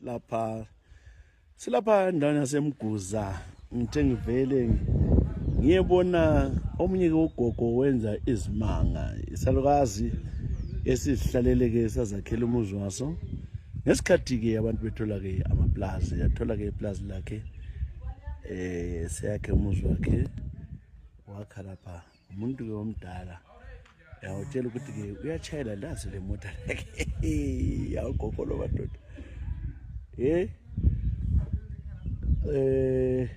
lapha silapha endaweni yasemguza ngithe ngivele ngiyebona omunye ke ugogo wenza izimanga isalukazi esizihlalele-ke sazakhela umuzi waso ngesikhathi-ke abantu bethola-ke amaplazi yathola-ke iplazi lakhe um seyakhe umuzi wakhe wakha lapha umuntu ke omdala yawutshela ukuthi ke uyatshayela lazi le mota lakhe yawugogo lo madoda ye eh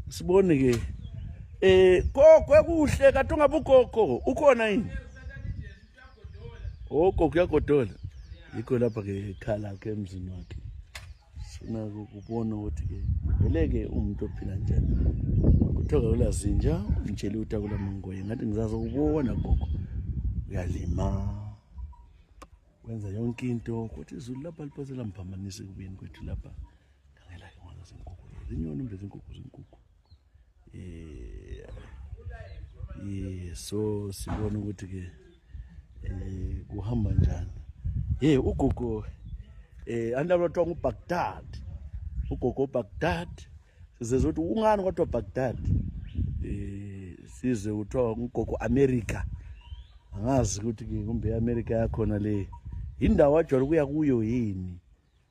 sibone ke eh gogo ekuhle kade ungabe ugogo ukhona yini oh gogo uyagodola yikho lapha ke khala ke emzini wakhe sifuna ukubona ukuthi-ke veleke umuntu ophila njani kuthiwa kakula zinja umtsheli ukuthi akula mangoye ngathi ngizazi ukubona gogo uyalima wenza yonke into kodwa izulu lapha liphose lamphambanisa ekubeni kwethu lapha ngangelake ngwana zenkukhu zinyoni mbe zenkukhu zenkukhu yeah. yeah. so sibona ukuthi ke eh kuhamba njani hey ugogo eh andalotwa nguBaghdad ugogo Baghdad sizezwe ukuthi ungani kodwa Baghdad eh size uthiwa ugogo America angazi ukuthi kumbe iAmerica yakhona le indawo ajwayele ukuya kuyo yini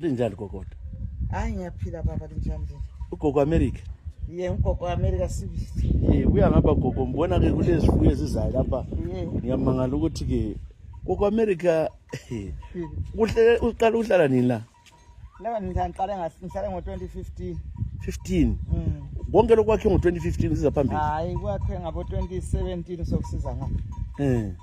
linjani kokota hayi ngiyaphila baba linjani lina ugogo america ye ugogo america sibili ye buya ngapha gogo ngibona ke kulezifuyo ezizayo lapha ye ngiyamangala ukuthi ke gogo america kuhle uqala ukuhlala nini la laba ngiqale ngas- ngihlale ngo-2015 15 Mm. konke lokwakhe ngo-2015 siza phambili hayi kwakhe ngabo-2017 sokusiza ngapha um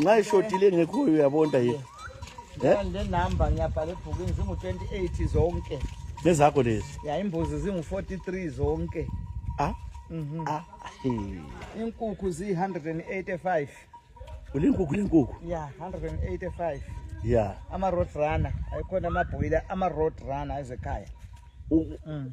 nxa ishodile ngekhoyo uyabonda ye ndenumber ngiyabhala ebhukwini zingu-28 zonke nezakho lezi ya imbuzi zingu-43 zonke a ah? mhm. ah, inkukhu ziyi-185 ulinkukhu lenkukhu ya 185 ya ama-road runner ayikhona amabhoyila ama-road runner ezekhaya mm.